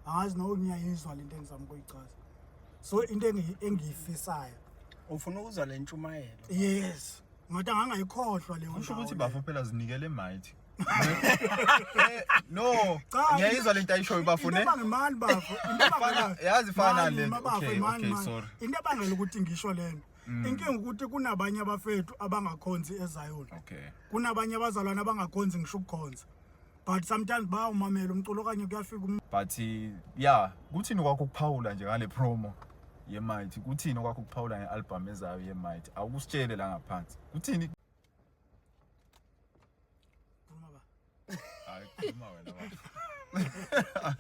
angazi noku ngiyayizwa lento engizama ukuyichaza so into engiyifisayo ufuna ukuzwa le ntshumayelo yes ngathi angangayikhohlwa leyo kusho ukuthi bafo phela zinikele mighty eh, no ngiyayizwa lento ayishoyo bafo ne into ngimani bafo into yazi fana le okay okay sorry into abangela ukuthi ngisho lena Mm. inkinga ukuthi kunabanye abafethu abangakhonzi ezayona okay kunabanye abazalwana abangakhonzi ngisho ukukhonza but sometimes bawumamela umculo okanye kuyafika um but ya kuthini kwakho ukuphawula nje ngale promo yemight kuthini okwakho ukuphawula nge-albhamu ezayo yemight awukusitshele la ngaphansi kuthini hayi khuluma wena baba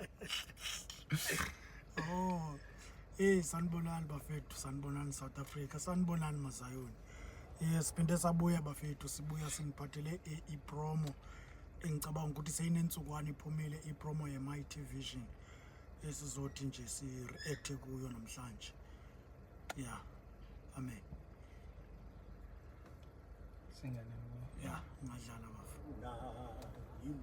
oh hey sanibonani bafethu sanibonani south africa sanibonani mazayoni Eh siphinde sabuya bafethu sibuya siniphathele eh, ipromo engicabanga ukuthi seyinentsukwana iphumile ipromo ye My TV Vision esizothi nje si react kuyo namhlanje. Yeah. Amen. Singane. Yeah, ngadlala bafu. Na yini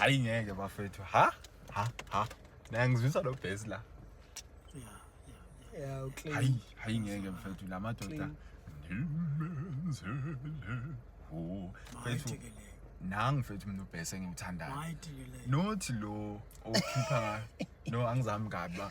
hayi ngeke bafethu ha ha ha naye ngizwisa lo bhesi la Yeah, okay. hayi hayi ngeke mfethu la madoda ngimenzele ho fethu Mayithekelele. nangu fethu mina ubhesi engiwuthandayo Mayithekelele. not lo okhipha ngayo no angizami kabi ba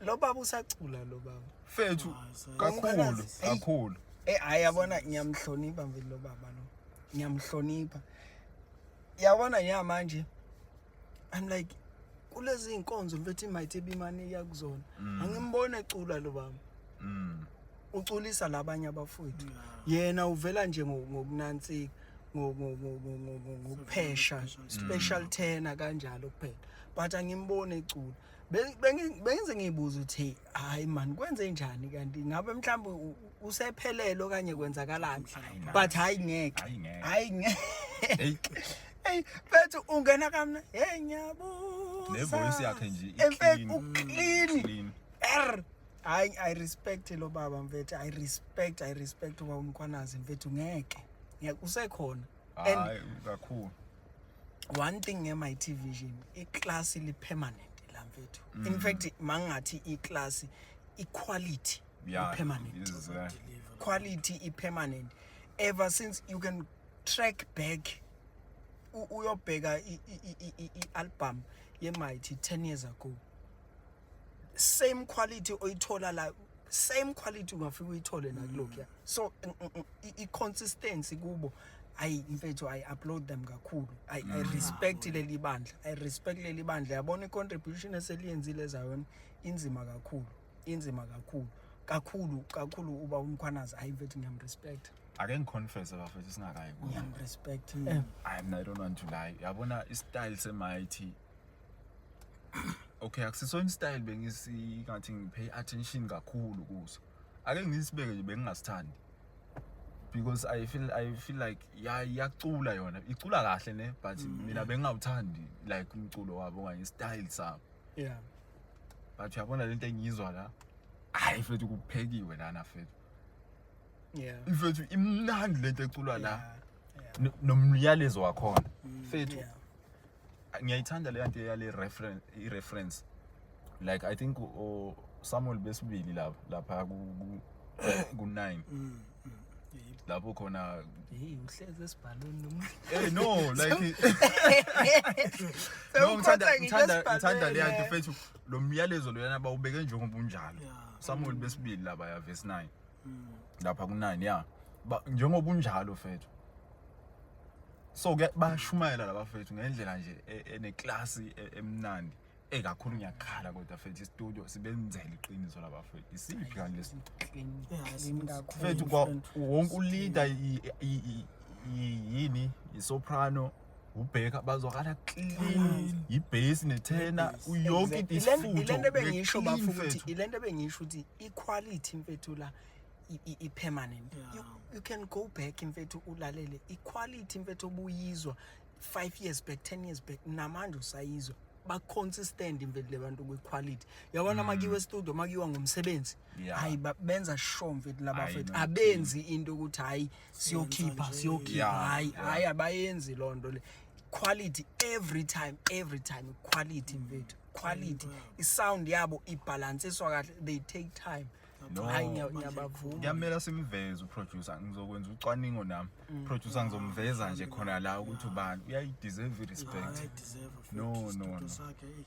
lo baba usacula lo baba fethu kakhulu kakhulu eh hayi yabona ngiyamhlonipha mfethu lo baba lo ngiyamhlonipha yabona nya manje i'm like kulezi inkonzo mfethu imayithi ebimane yakuzona mm. angimbone ecula lo baba mm. uculisa labanye abafowethu yena uvela nje ngokunansika ngokuphesha special tena kanjalo kuphela but angimbone ecula bengize ngiyibuza ukuthi hayi man kwenze njani kanti ngabe mhlawumbe usephelelo kanye kwenzakalani but hayi ngeke hayi ngeke hey bethu ungena kamna hey ngiyabuza ne voice yakhe nje i clean clean hayi i respect lo baba mfethu i respect i respect uba umkhwanazi mfethu ngeke ngeke usekhona hayi kakhulu one thing ngema television iclass li permanent la mfethu mm. in fact mangathi iclass iquality yeah, permanent is, uh, quality i permanent ever since you can track back uyobheka i album ye mighty 10 years ago same quality oyithola la same quality ungafika uyithole la kulokhu so i consistency kubo ayi mfethu i upload them kakhulu i, mm. I respect leli bandla i respect leli bandla yabona i contribution eseliyenzile ezayona inzima kakhulu inzima kakhulu kakhulu kakhulu uba umkhwanazi ayi mfethu ngiyamrespect ake ngiconfesse bafethu singakayi ngiyamrespect mm. i don't want to lie yabona i style semighty okay akusisona istyle bengisingathi ngipay attention kakhulu kuso ake ngisibeke nje bengingasithandi because i feel i feel like yacula yona icula kahle ne but mm. mina bengingawuthandi like umculo wabo okanye istyle sabo yeah but uyabona lento engiyizwa la hayi fethu kuphekiwe lana fethu yeah mfethu imnandi lento eculwa la nomyalezo wakhona mm, fethu ngiyayithanda le nto yale reference i reference like i think o Samuel besibili lapha lapha ku ku 9 mm, mm, lapho khona hey uhleze esibhalweni noma eh no like no ngithanda ngithanda ngithanda le nto fethu lo myalezo loyana bawubeke njengoba unjalo Samuel besibili laba ya verse 9 mm. lapha kunani ya njengoba unjalo fethu so ke bayashumayela laba fethu ngendlela nje e, eneklasi e, emnandi ekakhulu ngiyakhala kodwa fethu istudio sibenzele iqiniso laba fethu isiphi kanti lesi fethu wonke uleader yini isoprano ubheka bazwakala clean yibhesi nethena uyonke Exactly. Ile- isifutho ile nto bengisho Clean bafo ukuthi mfethu. ile nto bengisho ukuthi iquality mfethu la i- i- i-permanent Yeah. you, you can go back mfethu ulalele iquality mfethu obuyizwa five years back ten years back namanje usayizwa baconsistent mfethu le bantu kwiquality yabona makiwe estudio makiwa ngomsebenzi Yeah. hayi ba- benza sure mfethu laba Hayi, fethu no, abenzi into ukuthi hayi siyokhipha nje. siyokhipha Yeah, hayi yeah. hayi abayenzi loo nto le quality every time every time quality mfethu quality isound yabo ibhalansiswa kahle they take time No. hayi ngiya- ngiyabavuma kuyamela simveze uproducer ngizokwenza ucwaningo nami Mm. producer ngizomveza nje khona la ukuthi ubani uyayideserve Yeah, i-respect I deserve a No, no, no. sakhe. eish.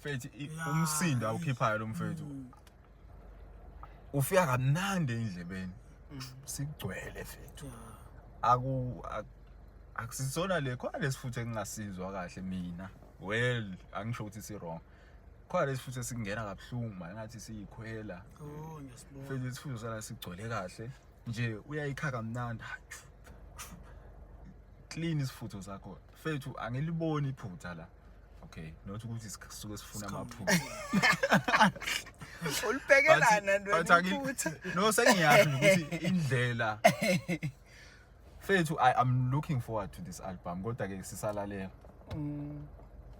mfethu i- Ya, umsindo eish. awukhiphayo lo mfethu Mm. ufika kamnandi endlebeni sigcwele mfethu Ya. aku ak- akusisona le khona lesifutho engingasizwa kahle mina well angisho ukuthi si wrong khona lesifutho esingena kabuhlungu manje ngathi siyikhwela Oh, ngiyasibona. mfethu isifutho sala sigcwele kahle nje uyayikhaka mnandi clean isifutho sakho fethu angiliboni iphutha la okay not ukuthi sisuke sifuna amaphutha ulibhekelana ntwephutha no sengiyazi ukuthi indlela fethu i am looking forward to this album kodwa ke sisalalela mm.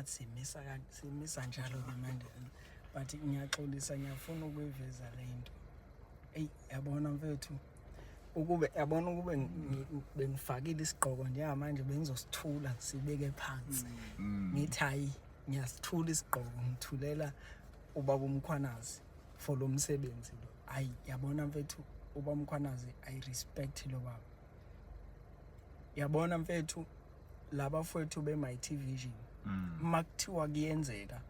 athi simisa simisa njalo ke manje but ngiyaxolisa ngiyafuna ukuyiveza le nto eyi yabona mfethu ukube yabona ukube bengifakile isigqoko njengamanje bengizosithula sibeke phansi mm. ngithi hayi ngiyasithula isigqoko ngithulela ubaba umkhwanazi for lo msebenzi lo hayi yabona mfethu ubaba umkhwanazi i respect lo baba yabona mfethu laba fwethu be my TV vision mm. makuthiwa kuyenzeka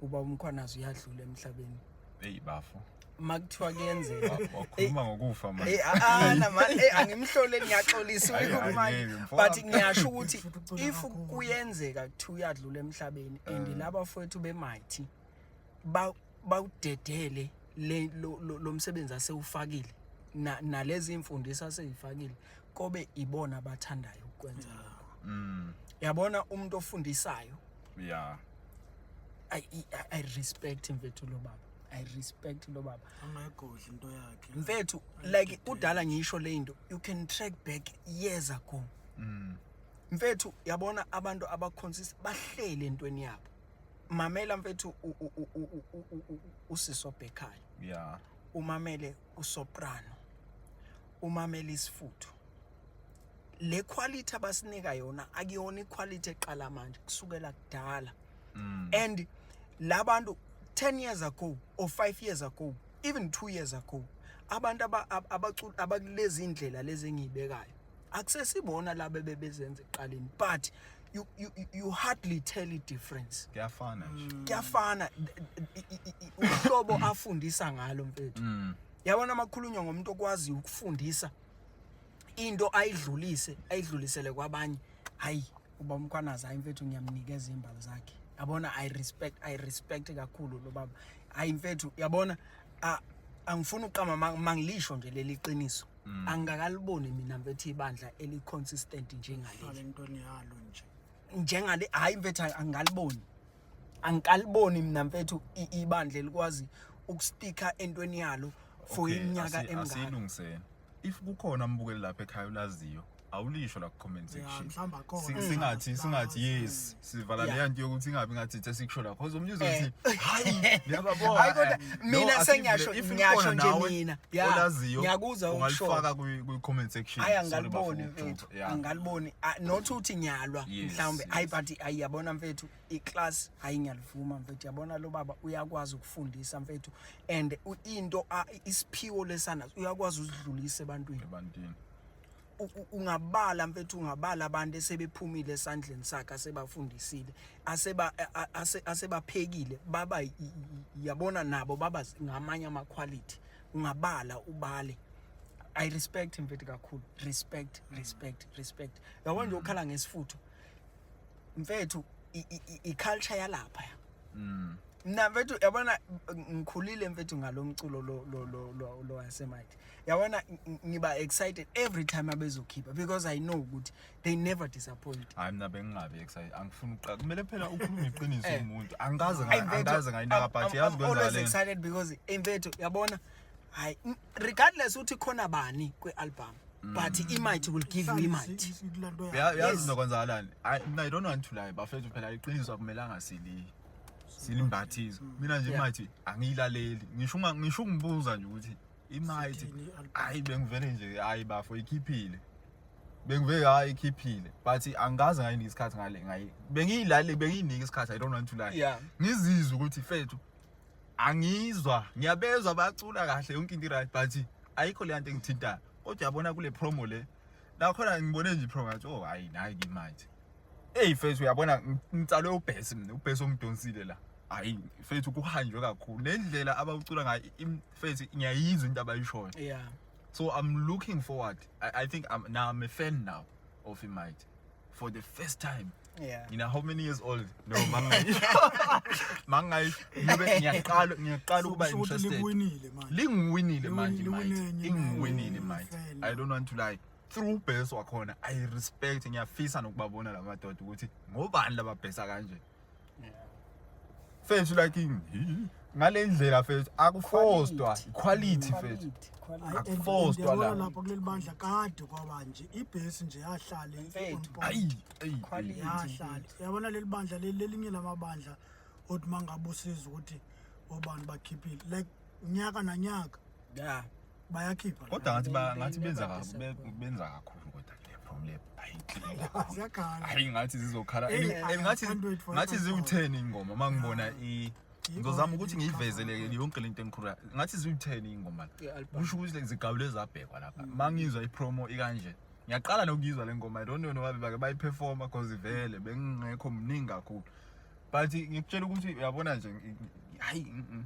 uba umkhwanazi uyadlula emhlabeni hey bafo makuthiwa kuyenzeka wakhuluma ngokufa manje eh ana ah, ah, eh angimhlole ngiyaxolisa ukumanje but ngiyasho ukuthi if kuyenzeka kuthiwa uyadlula emhlabeni and eh. laba fwethu be mighty ba bawudedele le lo msebenzi asewufakile nalezi imfundiso aseyifakile kobe ibona abathandayo ukwenza lokho mm. yabona umuntu ofundisayo yeah i i, I respect mfethu lo baba i respect lo baba angayigodli into yakhe mfethu like udala ngisho le into you can track back years ago mm. mfethu yabona abantu abaconsist bahlele entweni yabo mamela mfethu usisi obhekhayo yeah umamele usoprano umamele isifuthu le quality abasinika yona akuyona iquality eqala manje kusukela kudala mm. and labantu 10 years ago or 5 years ago even 2 years ago abantu abacula abakulezi indlela lezi engiyibekayo akusesibona laba bebezenza eqaleni but you, you, you hardly tell a difference kuyafana nje mm. kuyafana uhlobo afundisa ngalo mfethu mm. yabona amakhulunywa ngomuntu okwazi ukufundisa into ayidlulise ayidlulisele kwabanye hayi uba umkhwanazi hayi mfethu ngiyamnikeza imbali zakhe yabona i respect i respect kakhulu lo baba hayi mfethu yabona angifuni uqama mangilisho nje leli qiniso Mm. angikaliboni mina mfethu ibandla eli consistent njengaleli intweni yalo nje njengale hayi mfethu angikaliboni angikaliboni mina mfethu ibandla elikwazi ukusticka entweni yalo for iminyaka emingaka asilungiseni if kukhona umbukeli lapha ekhaya ulaziyo awulisho la comment section mhlamba khona singathi singathi yes sivala leya nto yokuthi ingabi ngathi ithe sikusho la cause umntu uzothi eh. hayi ngiyababona hayi kodwa mina sengiyasho ngiyasho nje mina olaziyo ngiyakuzwa ungalifaka kwi comment section hayi angaliboni mfethu angaliboni not uthi ngiyalwa mhlawumbe hayi but ayiyabona mfethu i class hayi ngiyalivuma mfethu yabona lo baba uyakwazi ukufundisa mfethu and into isiphiwo lesana uyakwazi usidlulise ebantwini ebantwini ungabala mfethu ungabala abantu esebephumile esandleni sakhe asebafundisile aseba asebaphekile baba yabona nabo baba ngamanye ama quality ungabala ubale i respect mfethu kakhulu respect respect respect yabona nje ukhala ngesifutho mfethu i culture yalapha mm mna mfethu yabona ngikhulile mfethu ngalomculo lo lo lo lo wasemathi yabona ngiba excited every time abezokhipha because i know ukuthi they never disappoint hayi mina bengingabi excited angifuni uqala kumele phela ukhulume iqiniso eh. umuntu angikaze angikaze ngayinaka but yazi kwenza le always excited because imfethu yabona hayi regardless uthi khona bani kwi album Mm. but imight will give you imight yazi nokwenzakalani mina i don't want to lie bafethu phela iqiniso akumelanga sili silimbathizo mm. mina nje imight angiyilaleli ngisho ngisho ungibuza nje ukuthi imayithi Sithini i-album? hayi bengivele nje hayi bafo ikhiphile bengivele hayi ikhiphile but angikaze ngayinika isikhathi ngale ngayi bengiyilalele bengiyinika isikhathi i don't want to lie Yeah. ngizizwe ukuthi fethu angizwa ngiyabezwa bacula kahle yonke into right but ayikho le nto engithintayo kodwa yabona kule promo le nakhona ngibone nje ipromo ngathi oh hayi nayi imayithi Hey mfethu uyabona ngitsalwe ubhesi mina ubhesi omdonsile la. Hayi mfethu kuhanjwe kakhulu. Le ndlela abawucula ngayo im- mfethu ngiyayizwa into abayishoyo. yeah So I'm looking forward. I, I think I'm now I'm a fan now of Imite for the first time. yeah You know how many years old? No, mangayi. mangayi. Ngibe ngiyaqala ngiyaqala ukuba Kusho ukuthi interested. liwinile manje Lingiwinile manje Liwinile, manje. liwinile, Ingiwinile manje. mfana. I don't want to lie. through base wakhona i respect ngiyafisa nokubabona la madoda ukuthi ngobani lababhesa kanje fethu like ngi- ngale ndlela fethu akufostwa quality fethu Hayi, and- Akufostwa and la. yabona lapho kuleli bandla kade kwaba nje ibhesi nje yahlale on Mfethu. point. ayi ayi Quality. yahlale yabona leli bandla leli lelinye lamabandla othi mangabe usiza ukuthi obani bakhiphile like nyaka nanyaka Yeah. bayakhipha kodwa ngathi ba- ngathi benza ka- Benza be- kakhulu. benza kakhulu kodwa le from le hayi ziyakhala hayi ngathi zizokhala Hey, And- I- and ngathi I can't wait for ngathi it. ziwu-10 ingoma uma ngibona i ngizozama ukuthi ngiyivezeleke yonke le nto engikhulula ngathi ziwu-10 ingoma I-album. kusho ukuthi like zigawule zabhekwa lapha uma ngizwa ipromo ikanje ngiyaqala nokuyizwa le ngoma i don't know nobabe bake bayiperforma cause vele bengingekho mningi kakhulu but ngikutshela ukuthi uyabona nje ngi- ngi- hayi mm, mm.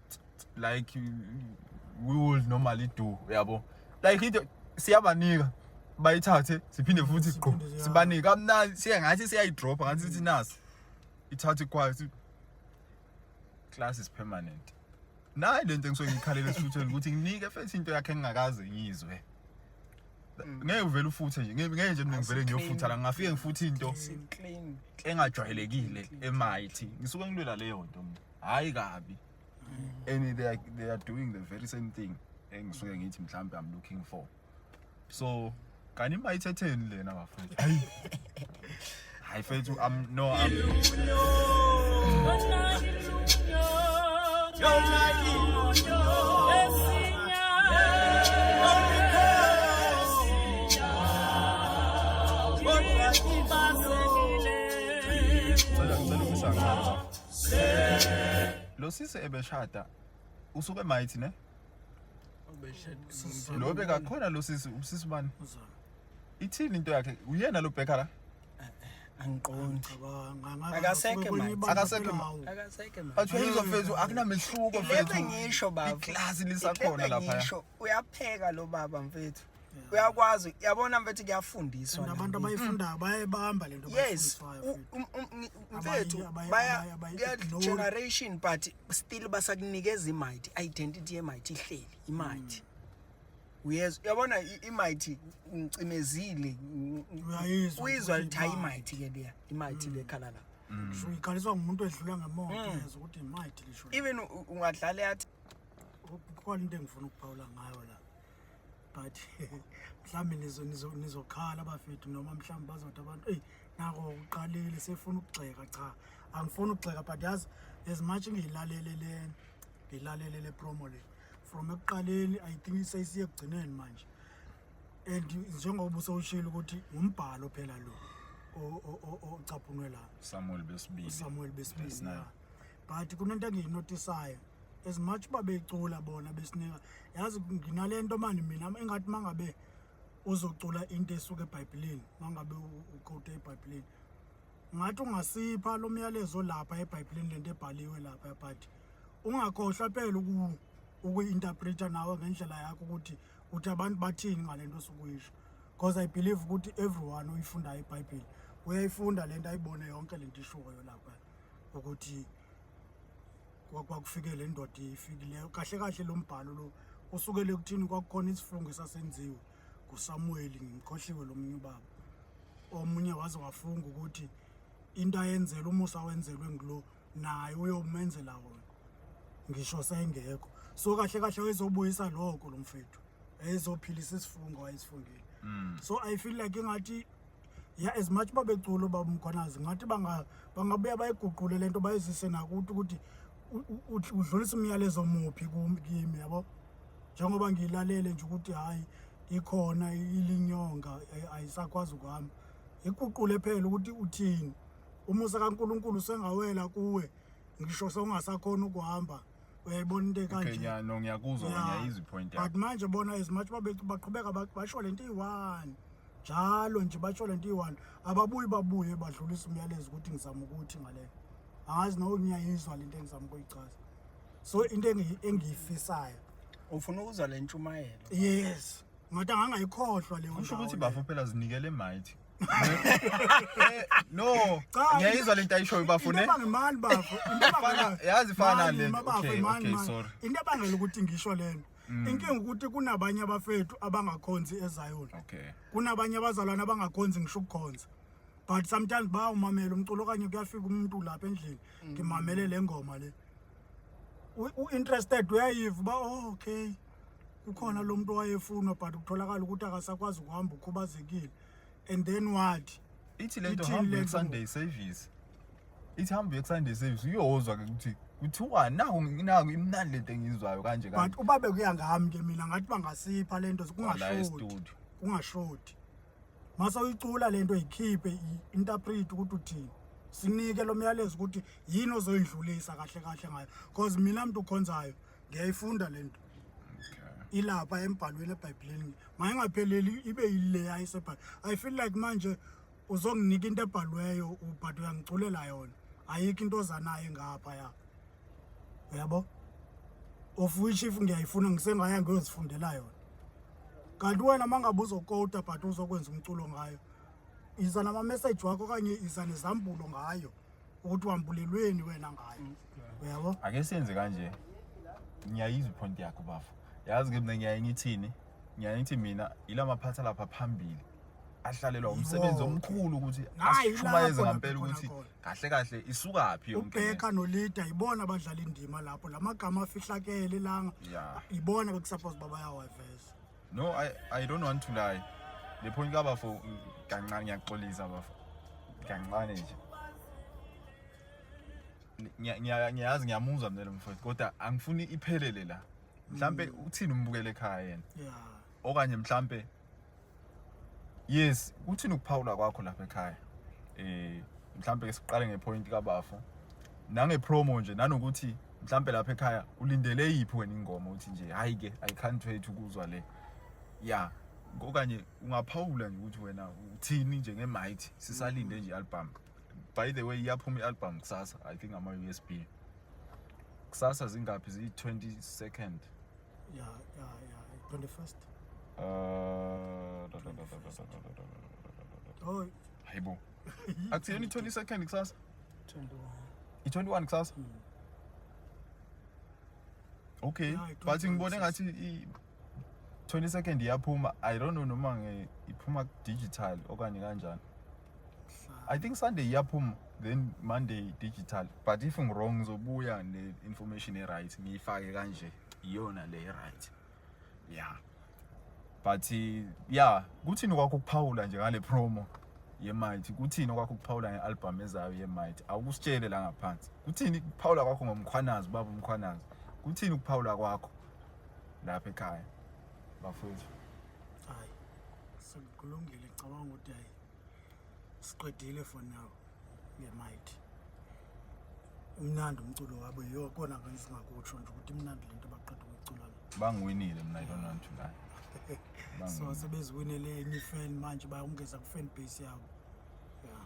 like we would normally do uyabo like into siyabanika bayithathe siphinde futhi sigqo sibanike kamnandi siye ngathi siyayidropha ngathi sithi nasi ithathe kwayo class is permanent nayi lento engisuke ngikhalele esifuthweni ukuthi nginike futhi into yakhe engingakaze ngizwe mm. ngeke uvele ufuthe nje ngeke nje mina ngivele ngiyofutha la ngafike ngifuthi into engajwayelekile emighty ngisuke ngilwela leyo nto mina hayi kabi and they are, they are doing the very same thing engisuke ngithi mhlawumbe i'm looking for so kanti bayithetheni lena bafethu hayi hayi fethu am no am Cela, cela, cela. Lo sisi ebeshada usuke emayithi ne? Lo bekakhona lo sisi usisi bani? Ithini into yakhe? Uyena lo bheka la? angiqondi akasekho manje akasekho akasekho manje athi uzofeza akunamehluko mfethu ngisho baba iklasi lisakhona lapha ngisho uyapheka lo baba mfethu uyakwazi yabona mfethu kuyafundiswa nabantu abayifundayo bayayibamba lento yes um, um, um, mfethu baya generation but still basakunikeza imight identity yemight ihleli imight mm. uyezwa uyabona imighty ngicimezile uyizwa lithi hayi imighty ke leya imighty mm. lekhala la ngisho mm. ikhaliswa ngumuntu edlula ngemoto mm. yezwa ukuthi imighty lisho even ungadlala yathi kukhona into engifuna ukuphawula ngayo la but mhlawumbe nizokhala bafethu noma mhlawumbe bazothi abantu eyi nako uqalile sefuna ukugxeka cha angifuni ukugxeka but yazi as much ngiyilalele le ngiyilalele le promo le from ekuqaleni i think seyisiye ekugcineni manje and njengoba usowushilo ukuthi ngumbhalo phela lo ocaphunwe la Samuel besibili Samuel besibili but kunento engiyinotisayo as much uba becula bona besinika yazi nginale nto mani mina engathi uma ngabe uzocula into esuke ebhayibhileni uma ngabe uqote ebhayibhileni ngathi ungasipha lo myalezo lapha ebhayibhileni lento ebhaliwe lapha but ungakhohlwa phela ukuyi-interpreta nawe ngendlela yakho ukuthi uthi abantu bathini ngale nto osuke uyisho because i believe ukuthi everyone oyifundayo ibhayibheli uyayifunda le nto ayibone yonke le nto ishoyo lapha ukuthi kwakufike le ndoda ifikileyo kahle kahle lo mbhalo lo usukele ekuthini kwakukhona isifungo esasenziwe ngusamuweli ngimkhohliwe lo munye ubaba omunye waze wafunga ukuthi into ayenzelwe umusa wenzelwe ngulo naye uyomenzela wona ngisho sengekho so kahle kahle wayezobuyisa lokho lo mfethu ezophilisa isifungo wayesifungile mm. so i feel like ingathi ya as much uba beculo uba umkhwanazi ngathi bangabuya bayiguqule le nto bayizise nakuthi ukuthi udlulisa umyalezo muphi kimi yabo njengoba ngiyilalele nje ukuthi hhayi ikhona ilinyonga ayisakwazi ukuhamba iguqule phela ukuthi uthini umusa kaNkuluNkulu sengawela kuwe ngisho sewungasakhona ukuhamba uyayibona into ekanje okay ngiya no ngiyakuzwa yeah. ngiyayizwa ipoint yakho but manje bona as much babethu baqhubeka basho lento iyi-one njalo nje basho lento iyi-one ababuyi babuye badlulisa umyalezo ukuthi ngizama ukuthi ngale angazi no ngiyayizwa lento engizama ukuyichaza so into engiyifisayo ufuna ukuzwa le ntshumayelo yes ngathi angangayikhohlwa leyo kusho ukuthi bafo phela zinikele mighty Eh, no Cha, ngiyayizwa lento ayishoyo bafo ne Into mani bafo. Into Fana- yazi fana le- okay, okay, sorry. Mm. Into ebangela ukuthi ngisho lento. Inkinga ukuthi kunabanye abafethu abangakhonzi eZion. okay Kunabanye abazalwane abangakhonzi ngisho ukukhonza. But sometimes bayawumamela umculo okanye kuyafika umuntu lapha endlini ngimamele le ngoma le. U- U-interested uyayiva uba oh, okay. kukhona lo muntu owayefunwa but kutholakala ukuthi akasakwazi ukuhamba ukhubazekile and then what ithi le nto Ithini hamba le nto? uyeku-sunday service ithi hamba uyeku-sunday service uyozwa-ke ukuthi kuthiwani naku naku imnandi le nto engiyizwayo kanje but kanje uba bekuya ngami ke mina ngathi bangasipha le nto la kungashodi estudio kungashodi mase uyicula le nto yikhiphe i-interpret ukuthi uthini sinike lo myalezo ukuthi yini ozoyindlulisa kahle kahle ngayo because mina mntu ukhonzayo ngiyayifunda le nto ilapha embhalweni ebhayibhileni mayingapheleli ibe yileya ayisebhayibhile i feel like manje uzonginika into ebhalweyo but uyangiculela yona ayikho into ozanayo ngapha ya uyabo of which if ngiyayifuna ngisengaya ngiyozifundela yona kanti wena uma ngabe uzokota but uzokwenza umculo ngayo iza nama-message wakho okanye iza nezambulo ngayo ukuthi wambulelweni wena ngayo mm. uyabo ake senze kanje ngiyayizwa iphonti yakho bafo yazi ke mina ngiyaye ngithini ngiyaye ngithi mina yila maphatha lapha phambili ahlalelwa umsebenzi omkhulu ukuthi ashumayeze ngampela ukuthi kahle kahle isukaphi yonke ubheka nolida yibona abadlala indima lapho lamagama afihlakele langa yibona bekusuppose babayawaveza No, I, I don't want to lie. Le point ka bafo kancane ngiyaxolisa bafo. Kancane nje. Ngiyazi ngiyamuzwa mina lo mfowethu kodwa angifuni iphelele la. Mhlambe mm. uthini umbukele ekhaya yena? Yeah. Okanye mhlambe Yes, uthini ukuphawula kwakho lapha ekhaya? Eh mhlambe siqale ngepoint ka bafo. Nange promo nje nanokuthi mhlampe lapha ekhaya ulindele yiphi wena ingoma uthi nje hayi ke i can't wait ukuzwa le ya okanye ungaphawula nje ukuthi wena uthini nje ngemight sisalinde nje album by the way iyaphuma ialbum kusasa i think ama usb kusasa zingaphi ziyi 20 second ya ya ya 21st uh hayibo Akusiyona i-20 second kusasa? 21. I-21 kusasa? Mm. Okay. Yeah, But ngibone ngathi i 20 second iyaphuma. I don't know noma nge iphuma digital okanye kanjani. I think Sunday iyaphuma then Monday digital. But if I'm wrong ngizobuya ne information e right ngiyifake kanje. Iyona le right. yeah but yeah kuthini kwakho ukuphawula nje ngale promo yemight kuthini okwakho ukuphawula nge-albhamu ezayo yemight awukusitshele la ngaphansi kuthini ukuphawula kwakho ngomkhwanazi ubaba umkhwanazi kuthini ukuphawula kwakho lapha ekhaya bafowethu hayi sekulungile cabanga ukuthi hayi siqedile for now ngemic umnandi umculo wabo yiyo kona kanye singakutsho nje ukuthi imnandi lento abaqeda ukucula le bangiwinile mina i don't want to lie so sebeziwinele enye fan manje bayongeza ku fan base yabo yeah